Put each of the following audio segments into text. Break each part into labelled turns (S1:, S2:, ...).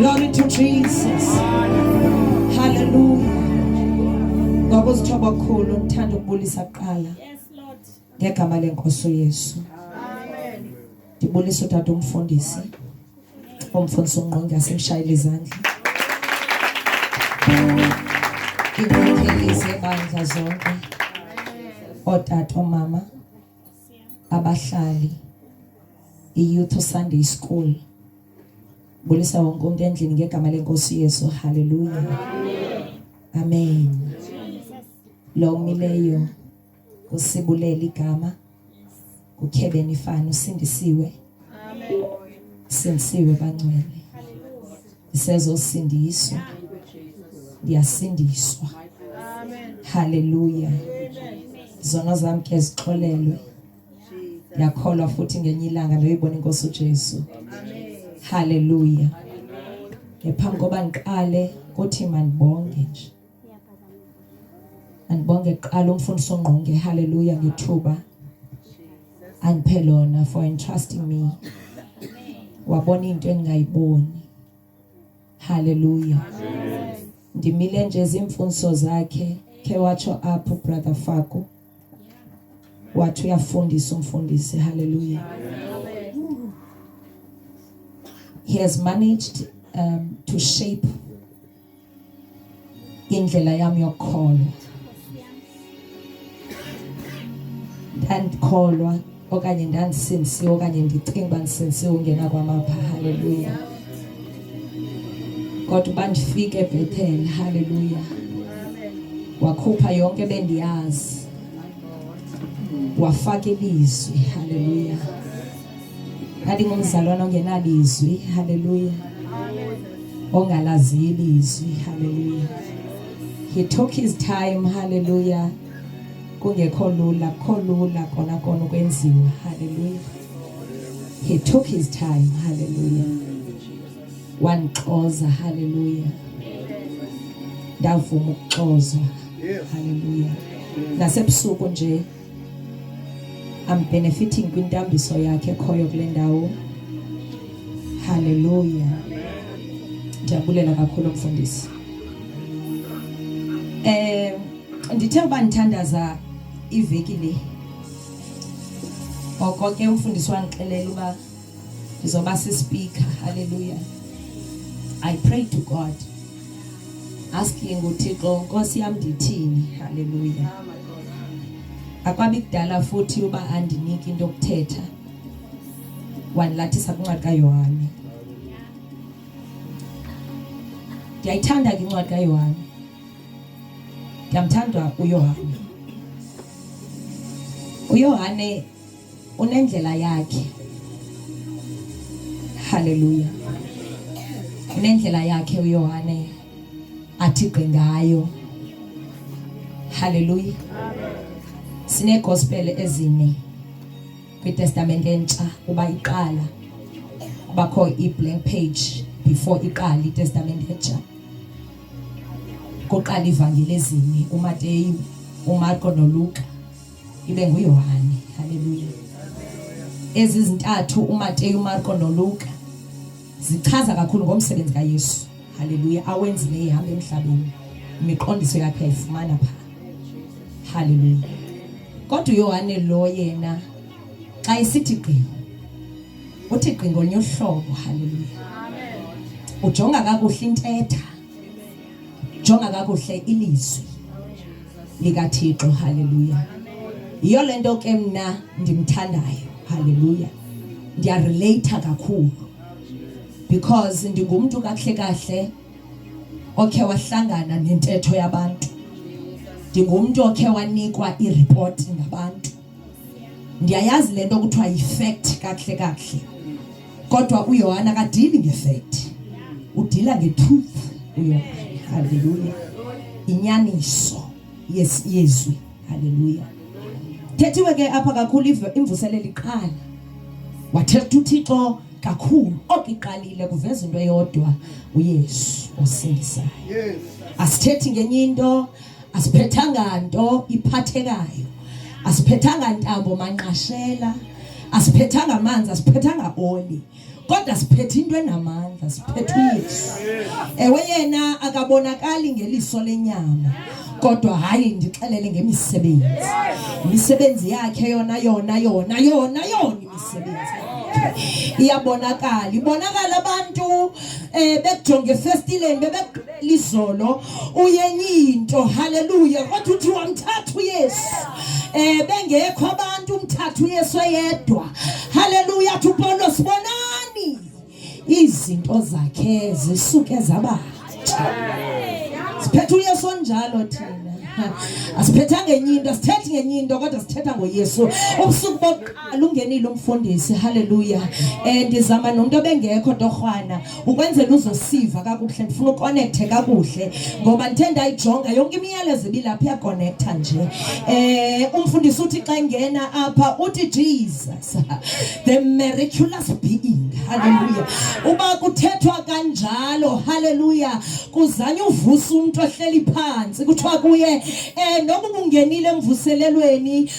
S1: Glory to Jesus. Hallelujah. Ngabozithoba bakhulu ngithanda ukubulisa kuqala. Yes Lord. Ngegama lenkosi uYesu. Amen. Ndibulisa utata umfundisi. Umfundisi ungqonge asimshayile izandla. Ngikuthelise bandla zonke. Otata omama abahlali iyouth sunday school bulisa wonke umntu endlini ngegama lenkosi yesu haleluya amen lo umileyo usibulela igama ukhebeni ifana usindisiwe sindisiwe bangcwele siyazosindiswa ndiyasindiswa haleluya zona zam ke zixolelwe ndiyakholwa futhi ngenye ilanga ndoyibona inkosi ujesu haleluya ngephambi koba ndiqale kuthi mandibonge nje andibonge kuqala umfundisi ongqonge haleluya ngethuba andiphe lona for entrusting me wabona into endingayiboni haleluya ndimile nje zimfundiso zakhe khe watsho apho brother fako wathi uyafundisa umfundisi haleluya he has managed um, to shape indlela yam yokukholwa ndandikholwa okanye ndandisinsiwe okanye ndicinga uba ndisinsiwe ungena kwamapha halleluya kodwa uba ndifike ebhethele halleluya wakhupha yonke bendiyazi wafaka ilizwi halleluya Ndandingumzalwana ongenalizwi, haleluya, ongalaziyo ilizwi, haleluya. He took his time, haleluya. Kungekho lula, kho lula kona kona ukwenziwa, haleluya. He took his time, haleluya. Wandixoza, haleluya. Ndavuma ukuxozwa, haleluya. Nasebusuku nje I'm benefiting kwintambiso yakhe ekhoyo kule ndawo. Hallelujah. Ndiyabulela kakhulu mfundisi. Eh ndithe uba ndithandaza iveki le. Ngoko ke umfundisi wandixelela uba ndizoba sispeaker haleluya i pray to god asking uthixo nkosi yam ndithini haleluya akwabi kudala futhi uba andiniki into yokuthetha wandilathisa kwincwadi kayohane ndiyayithanda ke incwadi kayohane ndiyamthanda uyohane uyohane unendlela yakhe haleluya unendlela yakhe uyohane athi gqi ngayo haleluya sineegospele ezine kwitestamente entsha uba iqala kubakho i-blank page before iqala itestamente entsha kuqala ivangeli ezine umateyu umarko noluka ibe nguYohane. Haleluya. Ezi zintathu uMateyu, uMarko noLuka zichaza kakhulu ngomsebenzi kaYesu. Haleluya, awenzile ihamba emhlabeni. Imiqondiso yakhe ayifumana pha. Haleluya. Kodwa uYohane lo yena xa isithi gqi uthi gqi ngolunye uhlobo. Haleluya. Amen. Ujonga kakuhle intetha. jonga kakuhle ilizwi likathixo haleluya yiyo le nto ke mna ndimthandayo haleluya ndiyareleyitha kakhulu because ndingumntu kakuhle kahle okhe wahlangana nentetho yabantu ndingumntu okhe wanikwa iripoti ngabantu ndiyayazi le nto kuthiwa yifekthi kakuhle kakuhle kodwa uyohana kadili ngefekthi udila ngetruth uyohana haleluya inyaniso yezwi haleluya thethiwe ke apha kakhulu imvuselelo iqala wathetha uthixo kakhulu okiqalile kuveza into eyodwa uyesu osindisayo asithethi ngenye into asiphethanga nto iphathekayo asiphethanga ntambo manqashela asiphethanga amanzi asiphethanga oli kodwa siphethe into enamandla siphethe uyesu ewe yena akabonakali ngeliso lenyama kodwa hayi ndixelele ngemisebenzi imisebenzi yakhe yona yona yona yona yona imisebenzi iyabonakala ibonakala abantu um bekujonge efestileni bebe izolo uyenye into haleluya kodwa uthi wamthatha uyesu um bengekho abantu umthatha uyesu eyedwa haleluya athi upolo sibonani izinto zakhe zisuke zabatsha siphethe uyesu onjalo thina asiphetha ngenye into asithethi ngenye into kodwa sithetha ngoyesu ubusuku bokuqala ungenile umfundisi halleluya um ndizama nomntu obengekho torhwana ukwenzela uzosiva kakuhle ndifuna ukonekthe kakuhle ngoba ndithe ndayijonga yonke imiyalezo ibilapha iyakonektha nje um umfundisi uthi xa engena apha uthi jesus the miraculous being halleluya uba kuthethwa kanjalo halleluya kuzanye uvusa umntu ohleli phantsi kuthiwa kuye um noba ubungenile emvuselelweni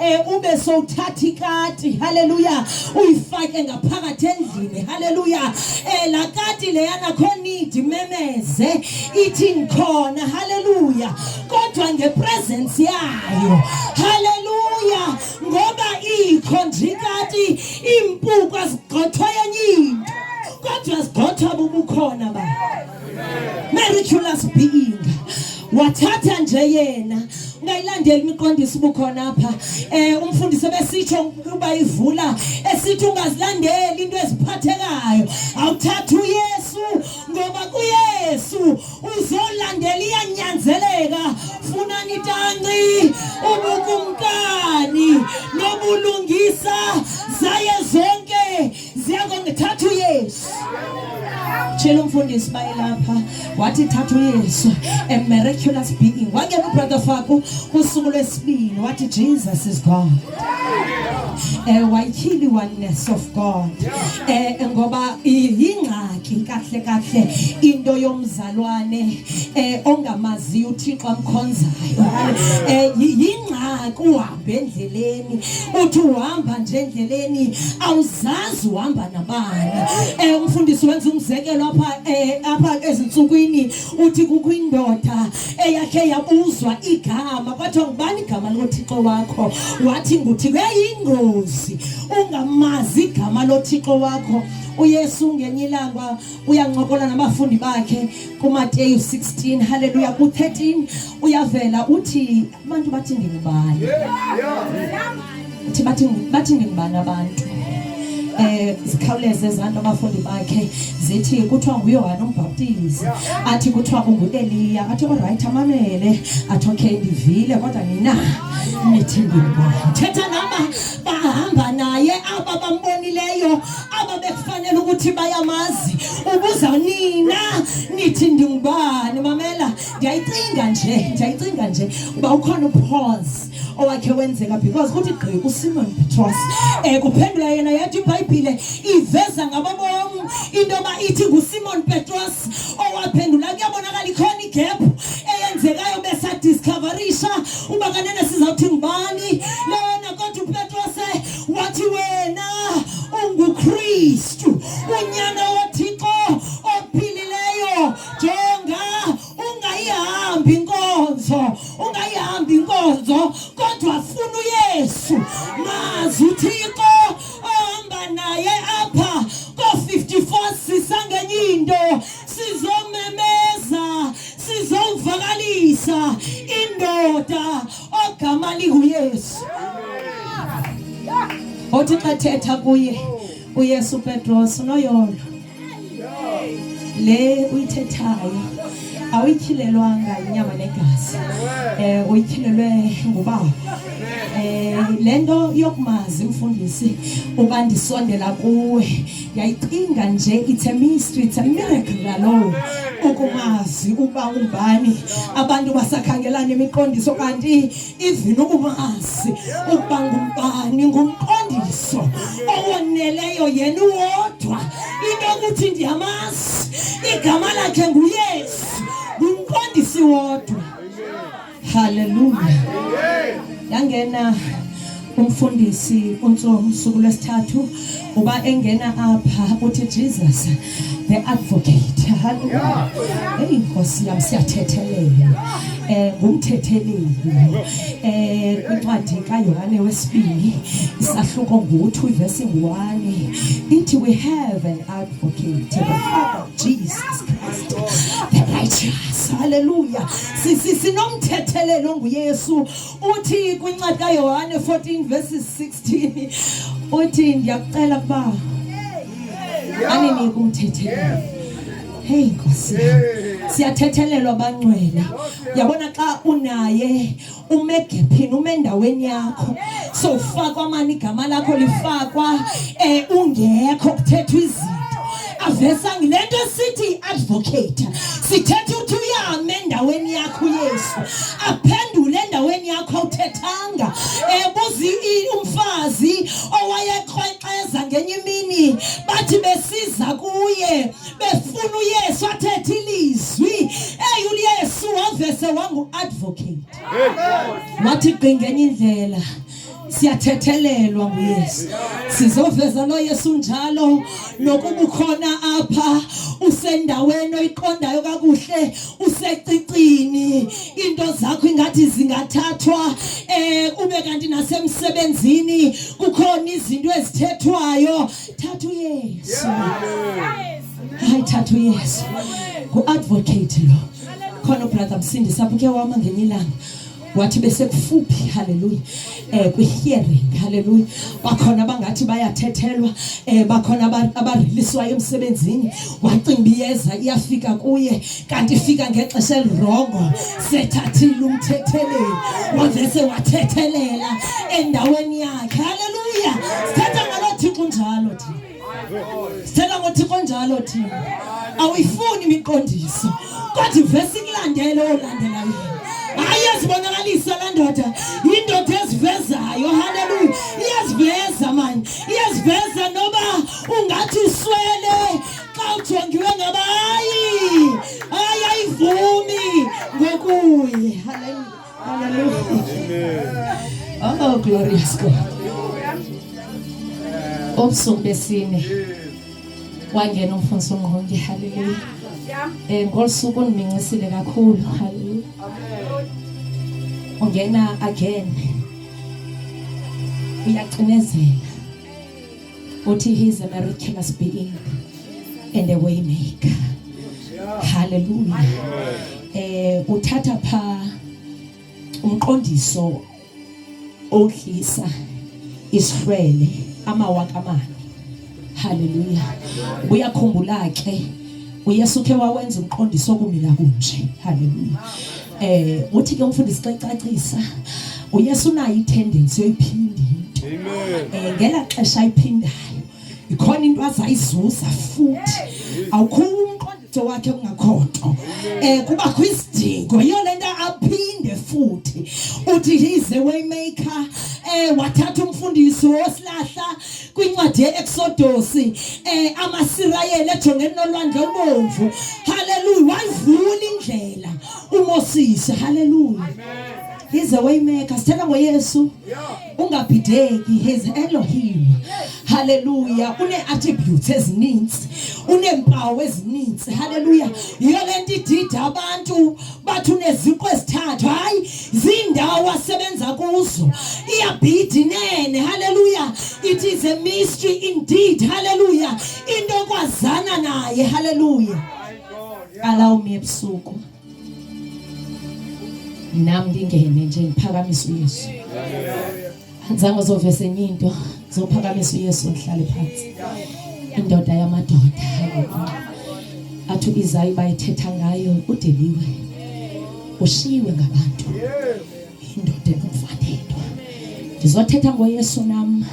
S1: e ube sowuthatha ikati haleluya uyifake ngaphakathi endlini haleluya e la kati leyana kho nidi memeze ithi ngikhona haleluya kodwa ngepresence yayo haleluya ngoba ikho nje ikati iimpuku azigqothwa yenye into kodwa zigqothwa bubukhona ba mericulous being wathatha nje yena ungayilandeli imiqondiso ubukhona apha eh umfundisi besitsho ukuba ivula esithi ungazilandeli into eziphathekayo awuthatha uYesu ngoba kuYesu uzolandela iyanyanzeleka funa nitanci ubukumkani nobulungisa zaye zonke ziyakongithathu years tshela umfundisi bayelapha wathi thathu yesu a miraculous being wangena ubrother faku kusuku lwesibini wathi jesus is god eh wayityhili oneness of god eh ngoba yingxaki kahle kahle into yomzalwane eh ongamaziyo uthixo amkhonzayo eh yingxaki endleleni uthi uhamba nje endleleni awuzazi uhamba nabani um umfundisi wenza umzekelo apha um apha ezintsukwini uthi kukho indoda eyakhe yabuzwa igama kwathiwa ngubani igama lothixo wakho wathi nguthi kuyayingozi ungamazi igama lothixo wakho uyesu ngenye ilanga uyancokola nabafundi bakhe kumateyu 16 halleluya ku-13 uyavela uthi abantu bathi ndingubani uthi bathi bathi ndingubani abantu eh sikhawuleze ezanto abafundi bakhe zithi kuthiwa nguyohane umbhaptizi athi kuthiwa ungueliya athi olrayithi amamele athi okay ndivile kodwa nina nithi ndingubani thetha naba bahamba naye aba bambonileyo aba bekufanele ukuthi bayamazi ubuza nina nithi ndingubani mamela ndiyayicinga nje ndiyayicinga nje uba ukhona upause owakhe wenzeka because kuthi gqi usimon petros um kuphendula yena yathi ibhayibhile iveza ngababom into yoba ithi ngusimon petros owaphendula kuyabonakala ikhona igephu eyenzekayo besadiscoverisha uba kanene sizawuthi ngubani lona kodwa upetros wathi wena ungukristu unyana jenga ungayihambi inkonzo ungayihambi inkonzo kodwa funa uyesu mazi uthixo ohamba naye apha ko-54 sisangenye into sizomemeza sizomvakalisa indoda ogama linguyesu othi xa thetha kuye uyesu petros unoyolo le uyithethayo awuyityhilelwanga yinyama negazi um uyityhilelwe ngubawo um le nto yokumazi mfundisi uba ndisondela kuwe yayicinga nje it's a mystery it's a miracle lalowo ukumazi uba umbani abantu basakhangelana imiqondiso kanti even ukumazi ukuba ngumbani ngumqondiso owoneleyo yena uwodwa into okuthi ndiyamazi igama lakhe nguyesu ngumqondisi wodwa haleluya yangena umfundisi uNtsomo usuku lwesithathu uba engena apha uthi Jesus the advocate haleluya hey inkosi yam siyathethelela eh ngumthetheleli eh incwadi kaYohane wesibili isahluko ngo-2 verse 1 ithi we have an advocate the father Jesus Christ the righteous haleluya sinomthetheleli onguYesu uthi kwincwadi kayohane 14 verses 16 uthi ndiyakucela ukuba aninike umthethelo heyi nkosi siyathethelelwa bangcwele yabona xa unaye ume gephini ume endaweni yakho sowufakwa mani igama lakho lifakwa um ungekho kuthethwa izinto avesanga le nto sithi i-advocate sithetha uthi uyame endaweni yakho uyesu aphendule endaweni yakho awuthethanga ebuza umfazi owayekrwexeza ngenye imini bathi besiza kuye befuna uyesu athethe ilizwi eyi uyesu wavese wangu-advocate wathi qingenye indlela siyathethelelwa nguyesu sizoveza lo yesu njalo nokuba ukhona apha usendaweni oyiqondayo kakuhle usecicini into zakho ingathi zingathathwa um ube kanti nasemsebenzini kukhona izinto ezithethwayo thatha uyesu hayi thatha uyesu ngu-advocate lo khona ubrother msindisa buke wama ngenye ilanga wathi besekufuphi haleluya eh kwihearing haleluya bakhona abangathi bayathethelwa eh bakhona abariliswayo emsebenzini wacinga iyeza iyafika kuye kanti ifika ngexesha elirongo sethathile umthetheleli wavese wathethelela endaweni yakhe haleluya sithetha ngalo thixo njalo thina Sithela ngoThixo njalo thina. Awuyifuni imiqondiso. Kodwa ivesi kulandele olandela yini. Hayi yazibonakalisa la ndoda. Indoda ezivezayo. Haleluya. Iyaziveza manje. Iyaziveza noba ungathi uswele xa ujongiwe ngaba hayi. Hayi ayivumi ngokuye. Haleluya. Oh, glorious God. Ubusuku besine wangena umfundisi ongqonge haleluya. Eh ngolusuku undimincisile kakhulu haleluya. Ungena again. Uyacinezela. uthi he is a miraculous being and a way maker haleluya eh uthatha pha umqondiso odlisa isihlwele amawaka amane haleluya uyakhumbula ke uyesu khe wawenza umqondiso okumila kunje haleluya Eh uthi ke umfundisi xa icacisa uYesu unayo itendency yoyiphinda into. Amen. Eh ngela xesha ayiphindayo ikhona into azayizuza futhi awukho umqondiso wakhe kungakho nto. Eh kubakho isidingo yiyo lento aphinde futhi uthi he's a way maker eh wathatha umfundisi wosilahla kwincwadi ye-eksodosi um eh, amasirayeli ejongene nolwandle ubomvu halleluya wayivula indlela umosisi halleluya He's a way maker. Sithanda ngoYesu. Ungabhideki. He's Elohim. Hallelujah. Une attributes ezininzi. Uneempawu ezininzi. Hallelujah. Yiyo lento idida abantu bathi uneziqu ezithathu hayi ziindawo asebenza kuzo iyabhidi nene haleluya it is a mystery indeed haleluya into ekwazana naye haleluya allow me ebusuku nam ndingene nje ndiphakamise uyesu andizange uzovese enye into zophakamisa uyesu ndihlale phantsi indoda yamadoda athi uizayi bayithetha ngayo udeliwe ushiyiwe ngabantu indoda enomfanelo ndizothetha ngoyesu nam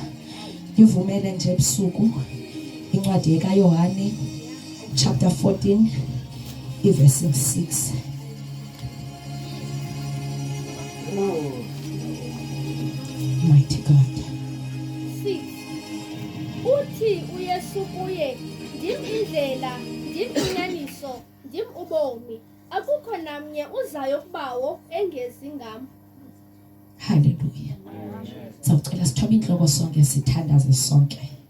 S1: ndivumele nje ebusuku incwadi yekayohane chapter 14 iverse 6 Mighty God.
S2: Uthi uYesu kuye, ndim indlela, ndim inyaniso, ndim ubomi. Akukho namnye uzayo kubawo engezi ngam.
S1: Hallelujah. Sawucela sithobe inhloko sonke sithandaze sonke.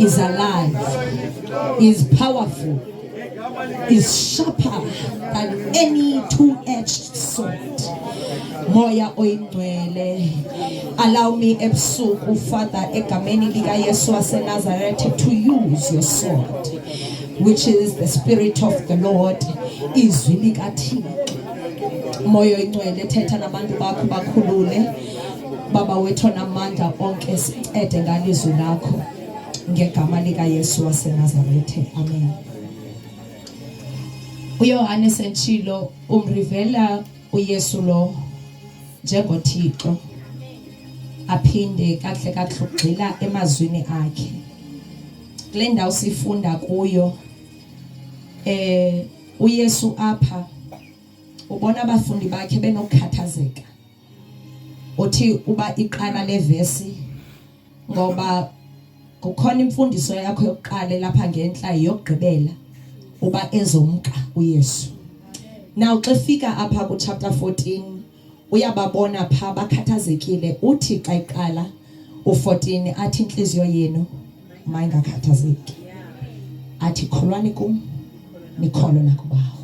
S1: is alive, is powerful, is sharper than any two-edged sword. Moya oyingcwele allow me ebusuku father egameni likayesu wasenazaretha to use your sword which is the spirit of the lord izwi likathixo moya oyingcwele thetha nabantu bakho bakhulule Baba wethu namandla onke sincede ngalizwi lakho ngegama lika Yesu waseNazaretha amen uYohane sentshilo umrivela uYesu lo njengoThixo aphinde kahle kahle ugxila emazwini akhe kule ndawo sifunda kuyo eh uYesu apha ubona abafundi bakhe benokukhathazeka uthi uba iqala levesi ngoba kukhona imfundiso yakho yokuqala lapha ngentla yokugqibela uba ezomka uYesu now xa fika apha ku chapter 14 uyababona pha bakhathazekile uthi xa iqala u14 athi inhliziyo yenu mayingakhathazeki athi kholwani kum nikholo nakubawo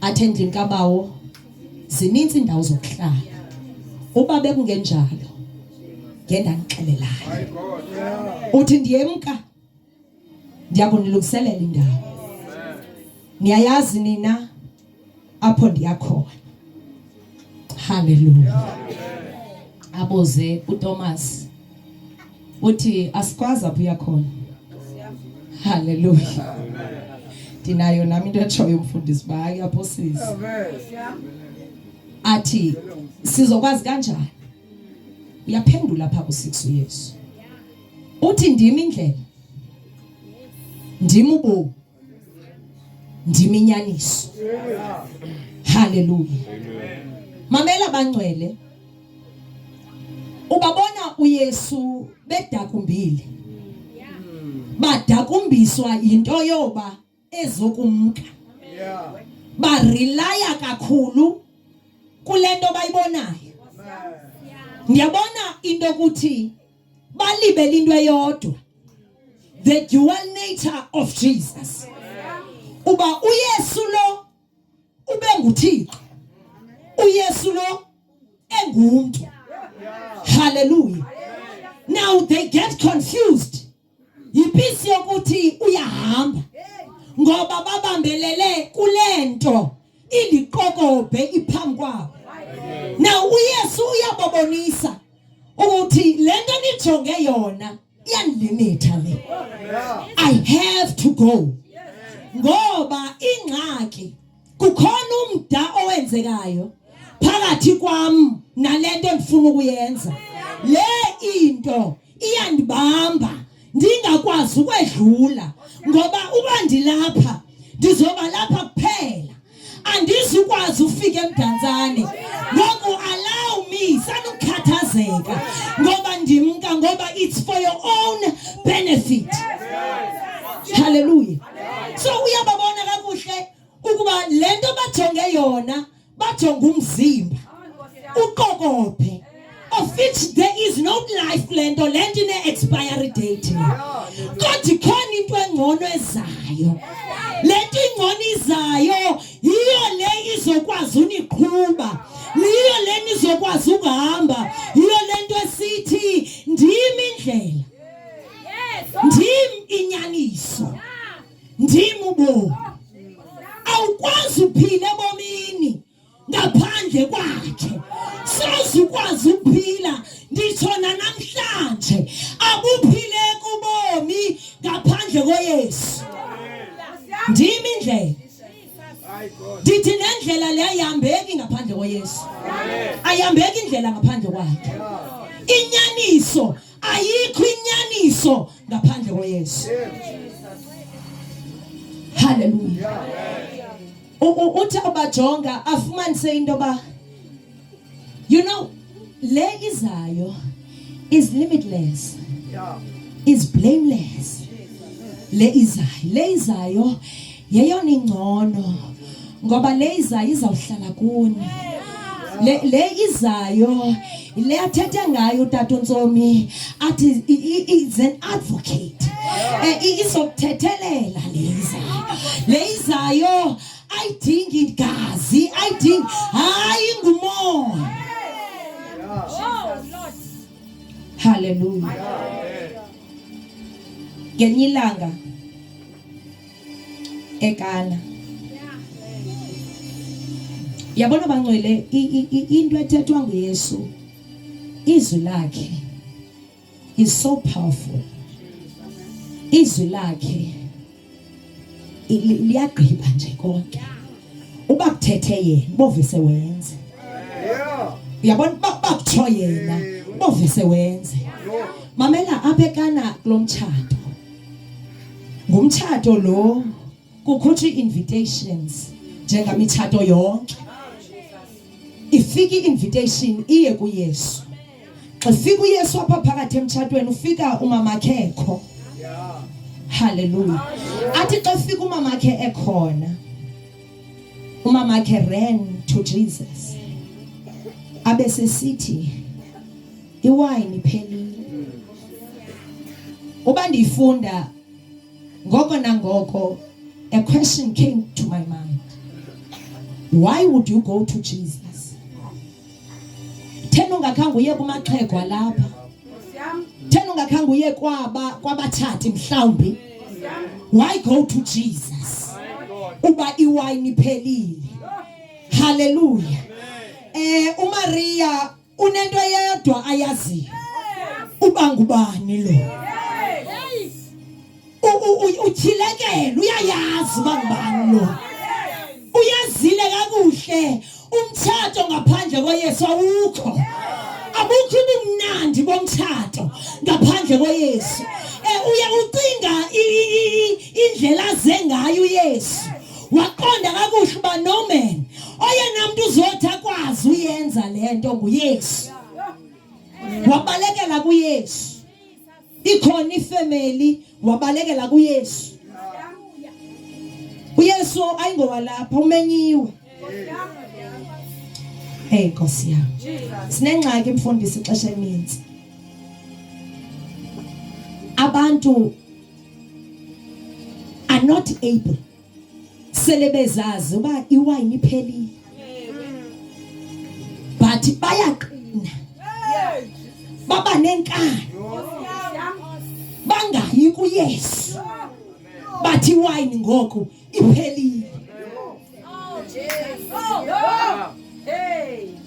S1: athe ndinkabawo zininzi indawo zokuhlala uba bekungenjalo ngendandixelelayo uthi ndiyemka ndiya kunilungiselela indawo niyayazi nina apho ndiya khona haleluya aboze uThomas uthi asikwazi apho uyakhona haleluya ndinayo nami into etshoyo umfundisi uba hayi apho sisi athi sizokwazi kanjani uyaphendula pha ku-six uyesu uthi ndim indlela ndim ubomi ndiminyaniso haleluya mamela bangcwele ubabona uyesu bedakumbile badakumbiswa yinto yoba ezokumka barelaya kakhulu kule nto bayibonayo ndiyabona into yokuthi balibele into eyodwa the dual nature of Jesus uba uYesu lo ubenguthixo uYesu lo engumntu hallelujah now they get confused yipisi yokuthi uyahamba ngoba babambelele kule nto indiqokobhe iphambi kwabo na uyesu uyababonisa ukuthi le nto nijonge yona iyandilimitha le i have to go ngoba ingxaki kukhona umda owenzekayo phakathi kwam nalento endifuna ukuyenza le into iyandibamba ndingakwazi ukwedlula ngoba uba ndilapha ndizoba lapha kuphela andizukwazi ufika emdantsane ngoku allow me sanukukhathazeka ngoba ndimka ngoba it's for your own benefit haleluya so uyababona kakuhle ukuba le nto bajonge yona bajonge umzimba uqokophe of which there is no life kule nto le nto ine-expiry date kodwa ikhona into engcono ezayo le nto ingcono izayo yiyo le izokwazi uniqhuba yiyo le nizokwazi ukuhamba yiyo le nto esithi ndim indlela ndim inyaniso ndim ubomi awukwazi uphila ebomini ngaphandle kwakhe soze ukwazi ukuphila nditsho nanamhlanje akuphileki ubomi ngaphandle koyesu ndim indlela ndithi nendlela le ayihambeki ngaphandle koyesu ayihambeki indlela ngaphandle kwakhe inyaniso ayikho inyaniso ngaphandle koyesu haleluya uthi abajonga afumanise into yoba you know le izayo is limitless is blameless le izayo le izayo yeyona ingcono ngoba le izayo izawuhlala kuni le le izayo le athethe ngayo utata uNtsomi athi is an advocate eh, izokuthethelela le izayo le izayo ayidingi igazi ayidingi hayi ngumoya haleluya ngenye ilanga ekala yabona bangcwele into ethethwa nguyesu izwi lakhe is so powerful izwi lakhe liyagqiba nje konke uba kuthethe yena bovise wenze uyabona uba kutsho yena bovise wenze mamela apha ekana kulo mtshato ngumtshato lo kukhutshwa ii-invitations njengamitshato yonke ifika i-invitation iye kuyesu xa fika uyesu apha phakathi emtshatweni ufika umamakhekho haleluya athi xa fika umamakhe ekhona umamakhe ran to jesus abe sesithi iwayini iphelile uba ndiyifunda ngoko nangoko a question came to my mind why would you go to jesus thena ungakhange uye kumaxhego alapha thena ungakhange uye kwaba kwabatshati mhlawumbi why go to jesus uba iwayini iphelile haleluya eh umaria unento eyedwa ayaziyo uba ngubani lo utyhilekele uyayazi uba ngubani lo uyazile kakuhle umtshato ngaphandle koyesu awukho abukho ubumnandi bomtshato ngaphandle koyesu um uye ucinga indlela aze ngayo uyesu waqonda kakuhle uba noman oyena mntu uzothi akwazi uyenza le nto nguyesu wabalekela kuyesu ikhona ifemeli wabalekela kuyesu uyesu ayingowalapha umenyiwe Hey Nkosi yami. Sinengxaki mfundisi ixesha elininzi. Abantu are not able sele bezazi uba iwayini iphelile but bayaqina baba nenkani bangayi kuyesu bathi iwayini ngoku iphelile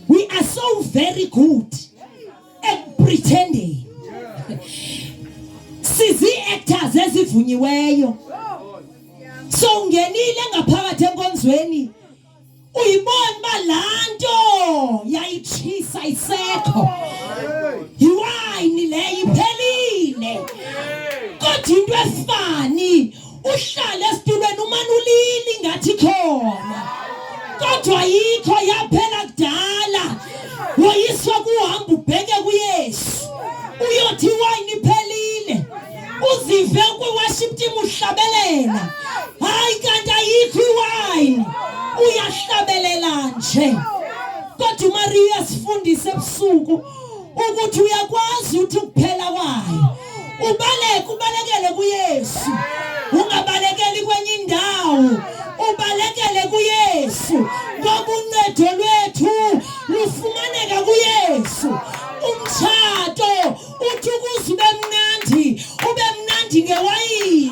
S1: we are so very good ekupretending sizii-actors ezivunyiweyo so ungenile ngaphakathi enkonzweni uyibona uba laa nto yayitshisa isekho yiwayini leyo iphelile kodwa into efani uhlale esitulweni umane ulili ngathi khona kodwa yikho yaphela kudala woyiswa kuhamba ubheke kuyesu uyothi iwayini iphelile uzive kwi-worship team uhlabelela hayi kanti ayikho iwayini uyahlabelela nje kodwa umariya sifundise ebusuku ukuthi uyakwazi ukuthi ukuphela kwayo ubaleke ubalekele kuYesu ungabalekeli kwenye indawo ubalekele kuYesu ngoba uncedo lwethu lufumaneka kuYesu umtshato uthi ukuze ube mnandi ube mnandi ngewayini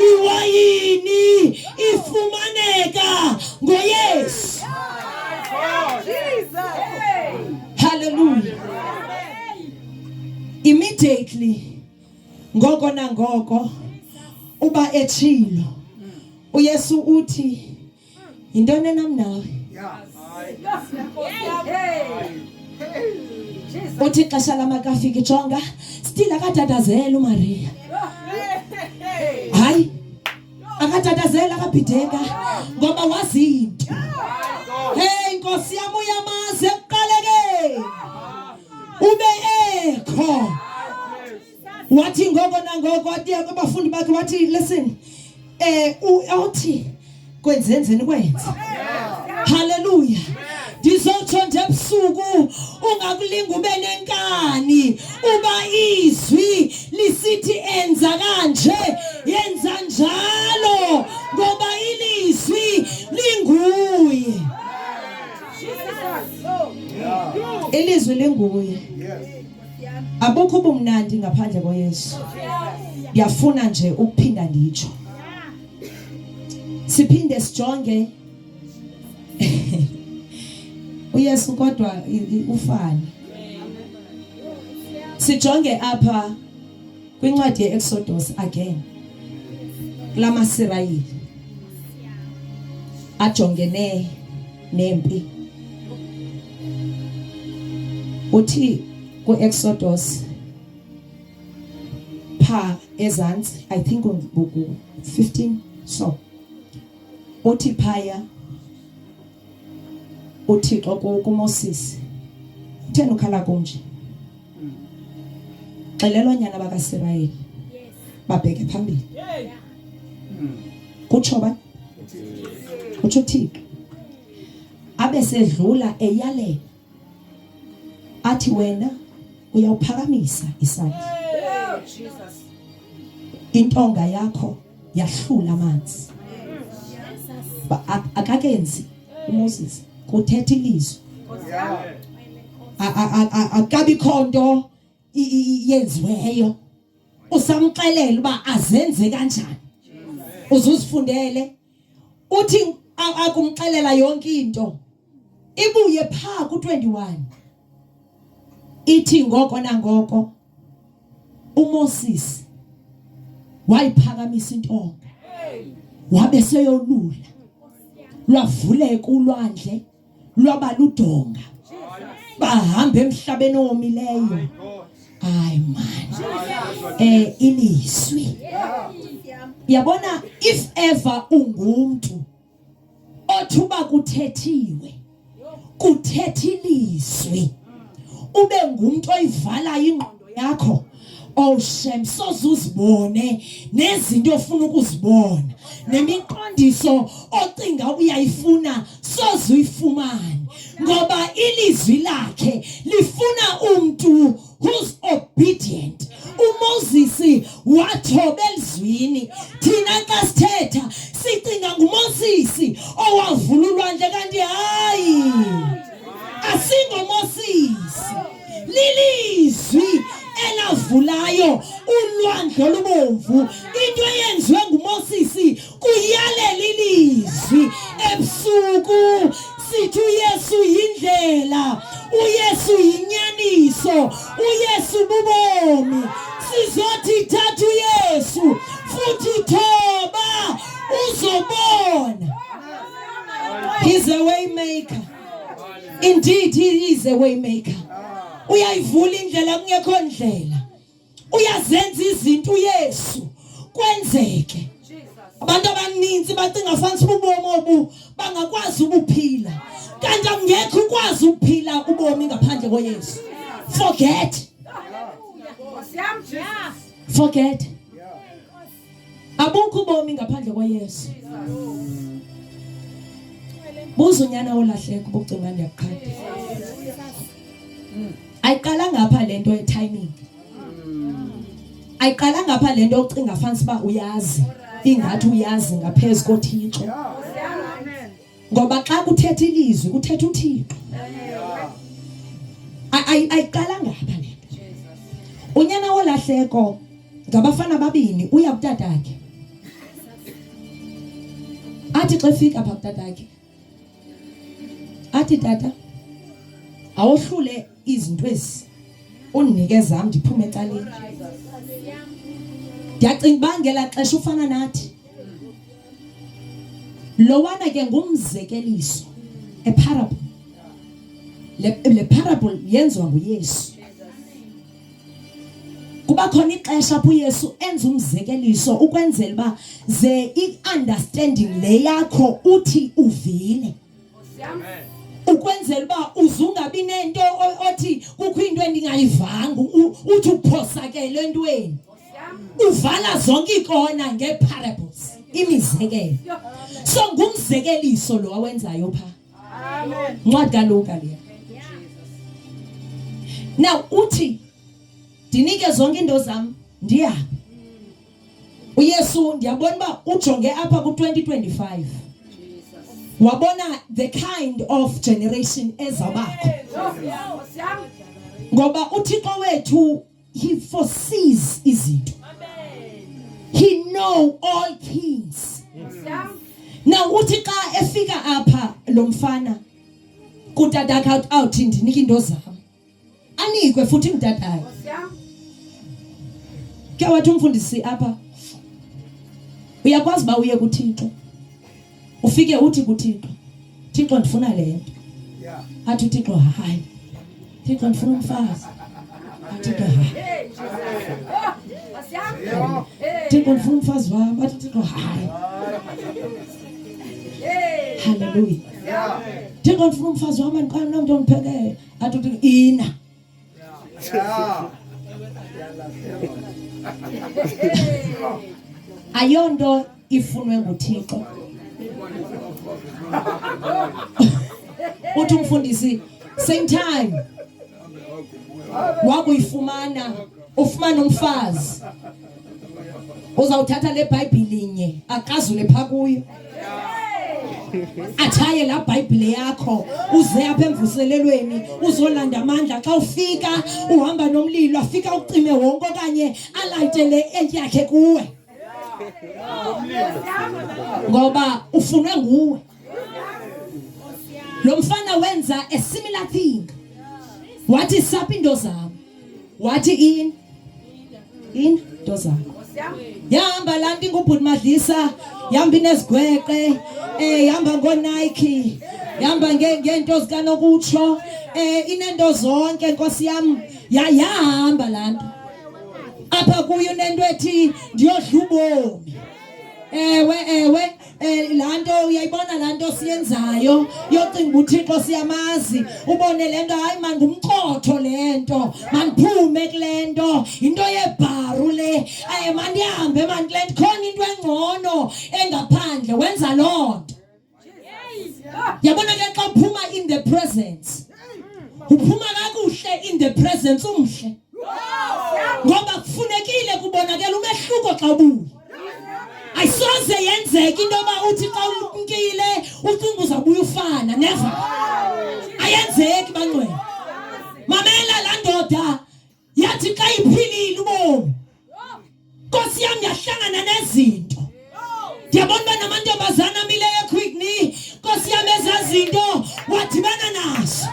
S1: iwayini ifumaneka ngoYesu Hallelujah. Immediately ngoko nangoko uba etshilo uYesu uthi yintoni enam nawe? Uthi xesha lamakafiki jonga still akadadazela uMaria. akatatazela akabhideka ngoba wazinto hey nkosi yam uyamazi ekuqalekeni ube ekho wathi ngoko nangoko wathi abafundi bakhe wathi listen eh uthi kwenzenzeni kwenze haleluya ndizotsho nje ebusuku ungakulinga ube nenkani uba izwi lisithi enza kanje yenza njalo ngoba ilizwi linguye ilizwi linguye abukho ubumnandi ngaphandle koyesu ndiyafuna nje ukuphinda nditsho siphinde sijonge uyesu kodwa ufani sijonge apha kwincwadi yeExodus again lamaSirayeli ajongene nempi uthi kuExodus pha ezantsi i think ku 15 so Uthi phaya uThixo kuMoses utheni ukhala kunje xelela onyana bakasirayeli babheke phambili kutsho ba kutsho uthixo abe sedlula eyalela athi wena uyawuphakamisa isandla intonga yakho yahlula amanzi akakenzi uMoses kuthetha ilizwi akabikho nto yenziweyo usamxelela uba azenze kanjani uzuzifundele uthi akumxelela yonke into ibuye pha ku21 ithi ngoko nangoko uMoses wayiphakamisa intonga wabe seyolula lwavuleka ulwandle lwaba ludonga bahamba emhlabeni owomileyo hayi mani eh ilizwi yabona if ever ungumntu othuba kuthethiwe kuthetha ilizwi ube ngumntu oyivalayo ingqondo yakho Oh shem soze uzibone nezinto ofuna ukuzibona nemiqondiso ocinga uyayifuna soze uyifumane ngoba ilizwi lakhe lifuna umuntu who's obedient uMoses wathoba elizwini thina xa sithetha sicinga nguMoses owavula ulwandle kanti hayi asingomoses lilizwi elavulayo ulwandle olubomvu into eyenziwe ngumosisi kuyalela ilizwi ebusuku sithi uyesu yindlela uyesu yinyaniso uyesu bubomi sizothi thatha uyesu futhi thoba uzobona he's a way maker Indeed he is a way maker. Uyayivula indlela kungekho ndlela. Uyazenza izinto uYesu kwenzeke. Abantu abaninzi bacinga fansi ubomi obu bangakwazi ukuphila. Kanti angekho ukwazi ukuphila ubomi ngaphandle koYesu. Forget. Forget. abukho ubomi ngaphandle kwayesu buza unyana olahleka ubucinga ndiyakuqhatha ayiqala ngapha le nto etiming ayiqala ngapha le nto ocinga fanisa uba uyazi ingathi uyazi ngaphezu kothixo ngoba xa kuthetha ilizwi kuthetha uthixo ayiqalanga apha le nto unyana wolahleko ngabafana ababini uya kutatakhe athi xa efika apha kutatakhe athi tata awohlule izinto ezi undinike zam ndiphume ecaleni ndiyacinga uba ngelaa xesha ufana nathi lowana ke ngumzekeliso a parable le, le parable yenziwa nguyesu kuba khona ixesha apho uyesu enza umzekeliso ukwenzela uba ze i-understanding le yakho uthi uvile ukwenzela uba uze ungabi nento othi kukho into endingayivanga uthi uphosakele entweni uvala zonke iikona ngee-parables imizekelo so ngumzekeliso lo awenzayo pha ncwadi kaluka leya now uthi ndinike zonke iinto zam ndihambe uyesu ndiyabona uba ujonge apha ku-2025 wabona the kind of generation ezawubakho ngoba uthixo wethu he foresees izinto he know all things now uthi xa efika apha lo mfana kutata awuthi ndinike into zam anikwe futhi mdadayo ke wathi umfundisi apha uyakwazi uba uye kuthixo ufike uthi kuthixo thixo ndifuna le nto athi uthixo hayi thixo ndifuna umfazi athi thixo hayi thixo ndifuna umfazi wam athi thixo hayi haleluya thixo ndifuna umfazi wam andiqala nomntu ondiphekele Hatu tu ina. Yeah. Ayonto ifunwe nguThixo. Uthi umfundisi same time wakuyifumana ufumana umfazi uzawuthatha le bhayibhile nye akazule pha kuyo atshaye laa bhayibhile yakho uze apha emvuselelweni uzolanda amandla xa ufika uhamba nomlilo afika ucime wonke okanye alayite le entyi yakhe kuwe ngoba ufunwe nguwe Lo mfana wenza a similar thing. Wathi sapha into zam. Wathi in in into zam. Yahamba la nto ingubhuti Madlisa, yahamba inezigweqe, eh yahamba ngoNike, yahamba ngeento zikanokutsho, eh inento zonke Nkosi yam, yayahamba la nto. Apha kuyo unento ethi ndiyodla ubomi. Ewe ewe Eh laa nto uyayibona laa nto siyenzayo yocinga uba uthixo siyamazi ubone le nto hayi mandumchotho le nto mandiphume kule nto yinto yebharu le um mandihambe mandikule nto khona into engcono engaphandle wenza loo nto yabona ke xa uphuma in the presence uphuma kakuhle in the presence umhle ngoba kufunekile kubonakela umehluko xa ubuya ayisoze yenzeke into yoba uthi xa umkile ucinga uzawubuya ufana neva ayenzeki bangcwele mamela laa ndoda yathi xa iphilile ubomi nkosi yam yahlangana nezinto ndiyabona uba namantombazana amileyo equickni nkosi yam ezaa zinto wadibana nazo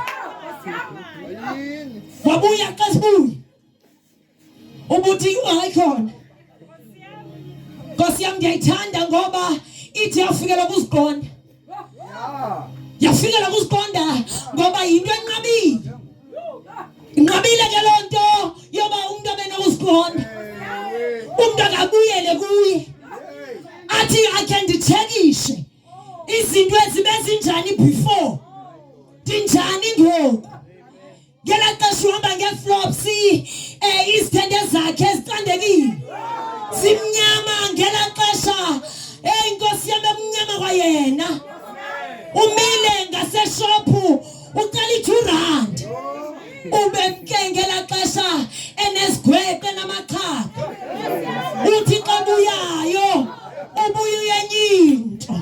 S1: wabuya xa sibuye ubuthi hayi khona nkosi yam ndiyayithanda ngoba ithi yafikela kuziqonda yafikela kuziqonda ngoba yinto enqabile inqabile ke loo nto yoba umntu abe nokuziqonda umntu akabuyele kuye athi akhe nditshekishe izinto ezibe zinjani before ndinjani ngoku ngela xesha uhamba ngeflops um izithende zakhe ezicandekile zimnyama ngela xesha eyi nkosi yam ekumnyama kwayena umile ngaseshophu ucela i-two rand ubemke ngela xesha enezigweqe namachapha uthi xa buyayo ubuye uyenye into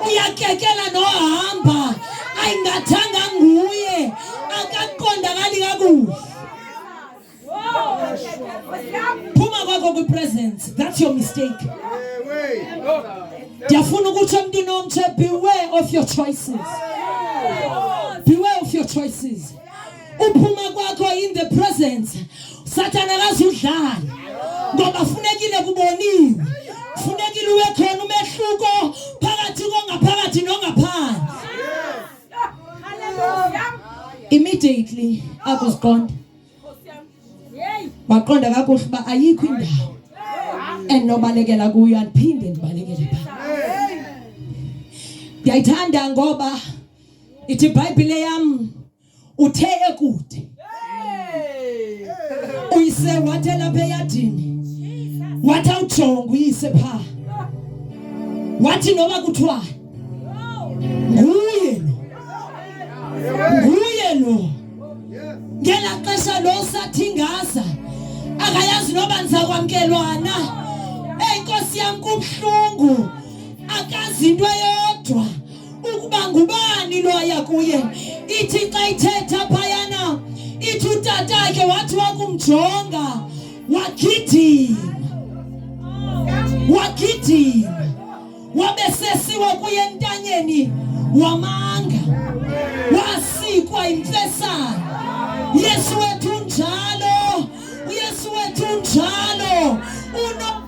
S1: uyakekela nohamba ayingathanga nguye akaqondakali kakuhle phuma kwakho kwipresence that's your mistake ndiyafuna ukuthi emntwini omtshe beware of your choices beware of your choices uphuma kwakho in the presence sathana akazudlala ngoba funekile kuboniwe funekile uwe khona umehluko phakathi kongaphakathi nongaphandle immediately akuziqonda waqonda kakuhle uba ayikho indawo endinobalekela kuyo andiphinde ndibalekele pha ndiyayithanda ngoba ithi ibhayibhile yam uthe ekude uyise wathe lapha eyadini wathi awujonga uyise pha wathi noba kuthiwa nguye lo nguye lo ngela xesha lo sathingaza akayazi noba ndizakwamkelwana eyi nkosi yam kubuhlungu akazi into eyo ukuba ngubani loya kuye. Ithi xa ithetha phayana, ithi utatakhe wathi wakumjonga wagidima, wagidima, wabe sesiwa kuye entanyeni wamanga, wasikwa imfesana. Yesu wethu njalo, uYesu wethu njalo uno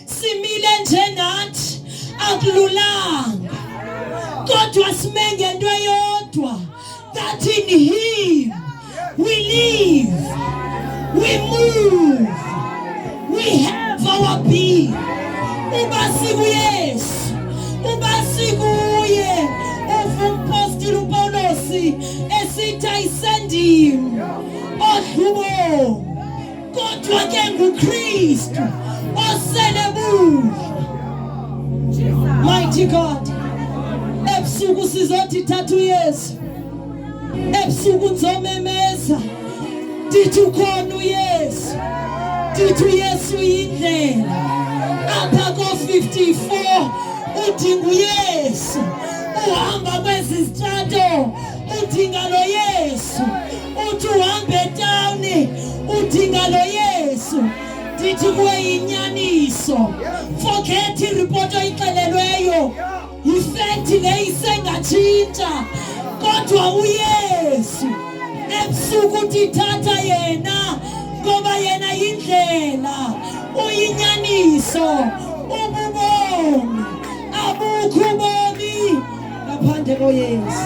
S1: simile njengathi akululanga kodwa sime ngento eyodwa that in him we live we move we have our being uba sikuyesu uba sikuye uvumpostile upawulosi esithi ayisendim odlubo Kodwa ke nguKristu osele buya. Mighty God. Ebusuku sizothi thatha uYesu. Ebusuku nzomemeza. Ndithi ukhona uYesu. Ndithi uYesu yindlela. Apha ko-54 udinga uYesu. Uhamba kwezi zitrato udinga lo Yesu. uthi uhamba etawuni udinga lo yesu ndithi kuwe yinyaniso forget iripoti oyixelelweyo yifekthi le isengatshintsha kodwa uyesu ebusuku uthi thatha yena ngoba yena yindlela uyinyaniso ububomi abukho ubomi ngaphandle koyesu